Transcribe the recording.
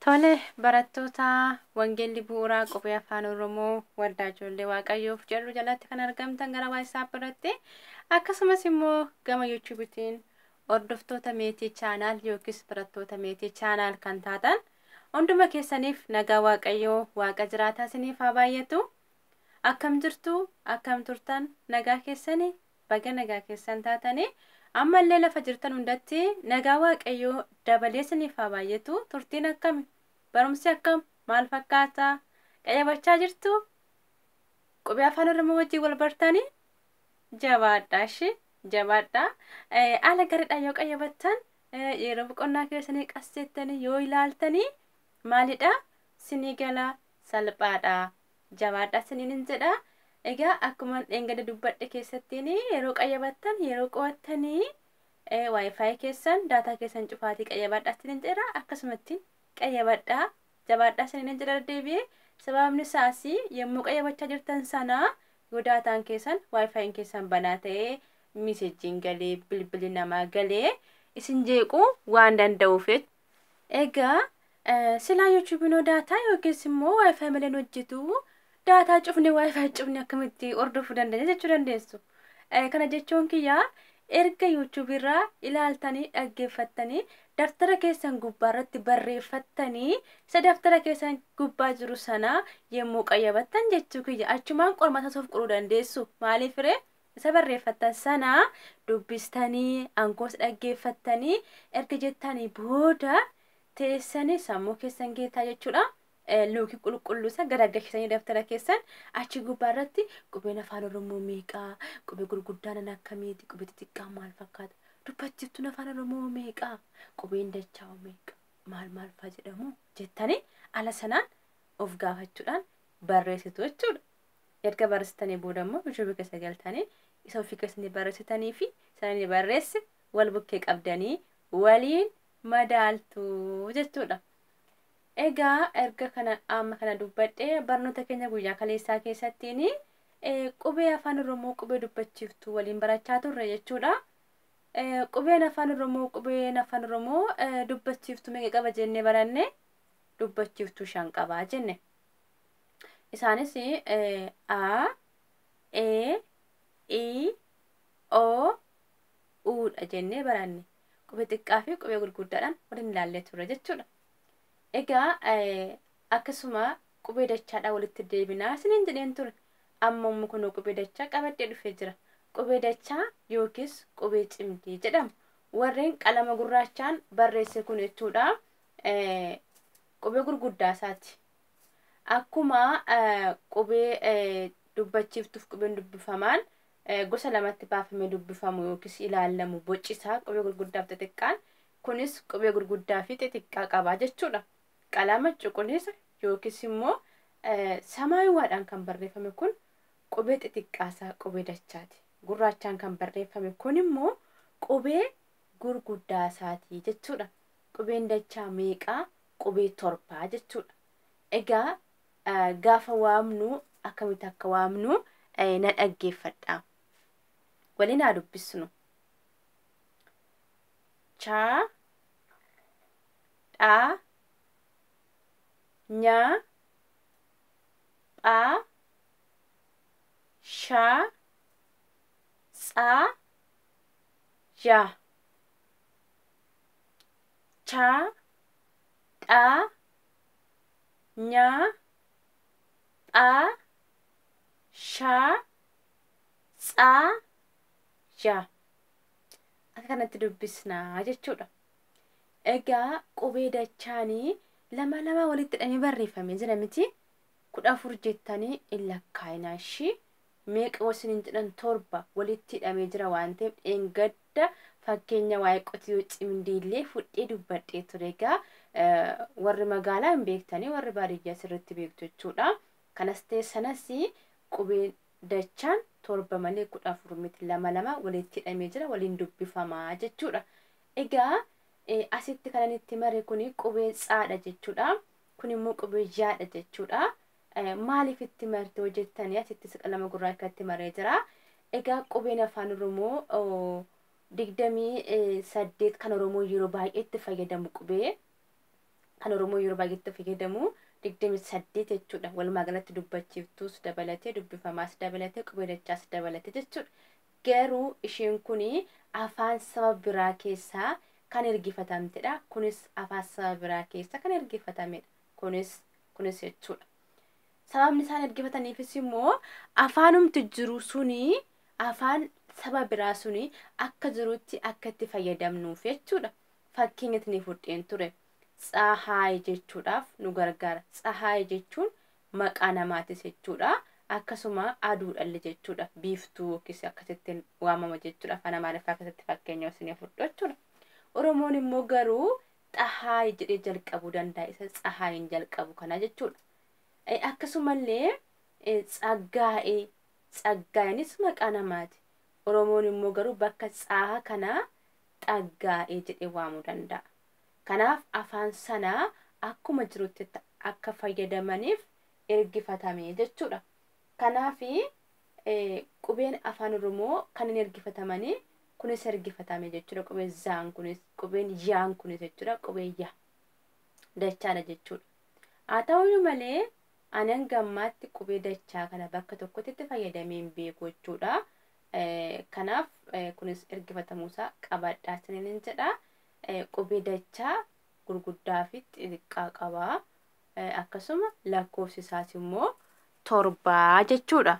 Tole, barattoota Wangeelli Bu'uuraa Qubee Afaan Oromoo Waldaa Ijoollee Waaqayyoof jedhu jalatti kan argamtan gara WhatsApp irratti akkasumas immoo gama YouTubetiin hordoftoota meetii chaanaal yookiis barattoota meetii chaanaal kan taatan hunduma keessaniif nagaa Waaqayyoo Waaqa jiraataa isiniif haa baay'atu. Akkam jirtu? Akkam turtan? Nagaa keessanii? Baga nagaa keessan taatani. Amma illee lafa jirtan hundatti nagaa Waaqayyoo dabalee isiniif haa baay'atu. Turtiin akkami? Barumsi akkam? Maal fakkaata? Qayyabachaa jirtu? Qubee afaan Oromoo wajjin wal bartani? Jabaadhaa ishee jabaadhaa. Eh, Haala gaariidhaan yoo qayyabattan eh, yeroo boqonnaa keessanii qas jettanii yoo ilaaltanii maalidha? Sinii gala salphaadha. jabaadhaa isiniin jedha. Egaa akkuma dheengadda dubbadhe keessattiin yeroo qayyabattan yeroo qo'attanii waayifaayi keessan daataa keessan cufaatii qayyabadhaa isiniin jedha akkasumattiin qayyabadhaa jabaadhaa isiniin jedha deebi'ee sababni isaas yommuu qayyabachaa jirtan sana yoo daataan keessan waayifaayiin keessan banaa ta'ee miisejjiin galee bilbilli namaa galee isin jeequu waan danda'uuf Egaa silaa yuutuubinoo daataa yookiis immoo waayifaayi malee hojjetu daataa cufne waayifaayi cufne akkamitti hordofuu dandeenya jechuu dandeessu. Kana jechuun kiyyaa erga yuutuubirraa ilaaltanii dhaggeeffattanii daftara keessan gubbaa irratti barreeffattanii isa daftara keessan gubbaa jiru sana yommuu qayyabattan jechuu kiyya achumaan qormaata soof quruu dandeessu maaliif ree Isa barreeffattan sana dubbistanii, ankoos dhaggeeffattanii erga jettanii booda teessanii sammuu keessan geetaa jechuudha. Eh, Luukii qulqulluu isa garagalchisanii daftara keessan achi gubbaa irratti qubeen afaan Oromoo meeqaa? Qubee gurguddaanan akkamiiti? Qubee xixiqqaan maal fakkaata? Dubbachiiftuun afaan Oromoo meeqaa? Qubeen dachaa meeqa? Maal maal faa jedhamu? Jettanii ala sanaan of gaafachuudhaan barreessitu jechuudha. erga barreessitanii booda immoo yuutuubii keessa galtanii isa ofii keessanii barreessitanii fi sana ni barreesse wal bukkee qabdanii waliin madaaltu jechuudha. Egaa erga kana amma kana dubbadhee barnoota keenya guyyaa kaleessaa keessattiin qubee afaan Oromoo qubee dubbachiiftu waliin barachaa turre jechuudha. Qubeen afaan Oromoo qubeen afaan Oromoo dubbachiiftu meeqa qaba jennee baranne dubbachiiftu shan qaba jenne. Isaanis A, E, I, O, U dha jennee baranne. Qubee xiqqaa fi qubee gurguddaadhaan waliin ilaallee turre jechuudha. Egaa akkasuma qubee dachaadhaan walitti deebinaa isiniin jedheen ture. Amma immoo kunoo qubee dachaa qabadhee dhufee jira. Qubee dachaa yookiis qubee cimdii jedhamu. Warreen qalama gurraachaan barreesse kun jechuudha. Qubee gurguddaa isaati. Akkuma qubee dubbachiiftuuf qubeen dubbifamaan gosa lamatti baafamee dubbifamu yookiis ilaallamu boci isaa qubee gurguddaaf xixiqqaan kunis qubee gurguddaa fi xixiqqaa qaba jechuudha. Qalama cuquliisa yookiis immoo samaayiwaadhaan kan barreeffame kun qubee xixiqqaasaa qubee dachaati. Gurraachaan kan barreeffame kun immoo qubee gurguddaasaati jechuudha. Qubeen dachaa meeqaa qubee torbaa jechuudha. Egaa gaafa waamnu akkamitti akka waamnu na dhaggeeffadha. Waliin haa dubbisnu. Chaa dhaa nyaa phaa shaa tsaa yaa chaa xaa nyaa phaa shaa tsaa ja akka kanatti dubbisna jechuudha. Egaa qubee dachaani lama lama walitti hidhamee barreeffamee jira miti kudha afur jettanii hin lakkaa'inaa ishii meeqa wal siniin jedhan torba walitti hidhamee jira waan ta'eef dheengadda fakkeenya waa'ee qotiyoo cimdiillee fudhee dubbadhee ture egaa warri magaalaa hin beektanii warri baadiyyaa sirriitti beektu jechuudha kanas ta'e sanas qubeen dachaan torba malee kudha afur miti lama lama walitti hidhamee jira waliin dubbifamaa jechuudha egaa asitti kanan itti mare kun qubee tsaadha jechuudha kun immoo qubee yaadha jechuudha Maaliif itti marte yoo jettanii asittis qalama gurraacha itti maree jira. Egaa qubeen afaan Oromoo digdamii saddeet kan Oromoo yeroo baay'ee itti fayyadamu qubee kan Oromoo yeroo baay'ee itti fayyadamu digdamii saddeet jechuudha. Walumaa galatti dubbachiiftuus dabalatee dubbifamaas dabalatee qubee dachaas dabalatee jechuudha. Garuu isheen kun afaan saba biraa keessaa kan ergifatamtedha. Kunis afaan saba biraa keessa kan ergifatamedha. kunis kunis jechuudha. Sababni isaan ergifataniifis immoo afaanumti jiru suni afaan saba biraa suni akka jirutti akka itti fayyadamnuuf jechuudha. Fakkeenya isinii fudheen ture. Tsahaay jechuudhaaf nu gargaara. Tsahaay jechuun maqaa namaatis jechuudha. Akkasuma aduudhalle jechuudha. Biiftuu yookiis akkasitti waamama jechuudha. Afaan Amaariffaa keessatti fakkeenya isinii fudhu jechuudha. Oromoon immoo garuu xahaay jedhee jalqabuu danda'a isa tsahaayin jalqabu kana jechuudha. Eh, Akkasumallee eh, tsaggaa'ee tsaggaa'inis maqaa namaati. Oromoon immoo garuu bakka tsaaha kanaa xaggaa'ee jedhee waamuu danda'a. Kanaaf afaan sana akkuma jirutti ta- akka fayyadamaniif ergifatame jechuudha. Kanaaf eh, qubeen afaan Oromoo kan hin ergifatamanii Kunis ergifatame jechuudha. Qubee zaan kunis, qubeen yaan kunis jechuudha. Qubee ya. Dachaadha jechuudha. Haa ta'uyyuu malee ani hanga ammaatti qubee dachaa kana bakka tokkotti itti fayyadamee hin beeku jechuudha. Eh, Kanaaf eh, kunis ergifatamuusaa qabadhaa isiniin hin jedha. Eh, Qubee dachaa gurguddaa fi xixiqqaa qaba. Eh, Akkasuma lakkoofsi isaas immoo torbaa jechuudha.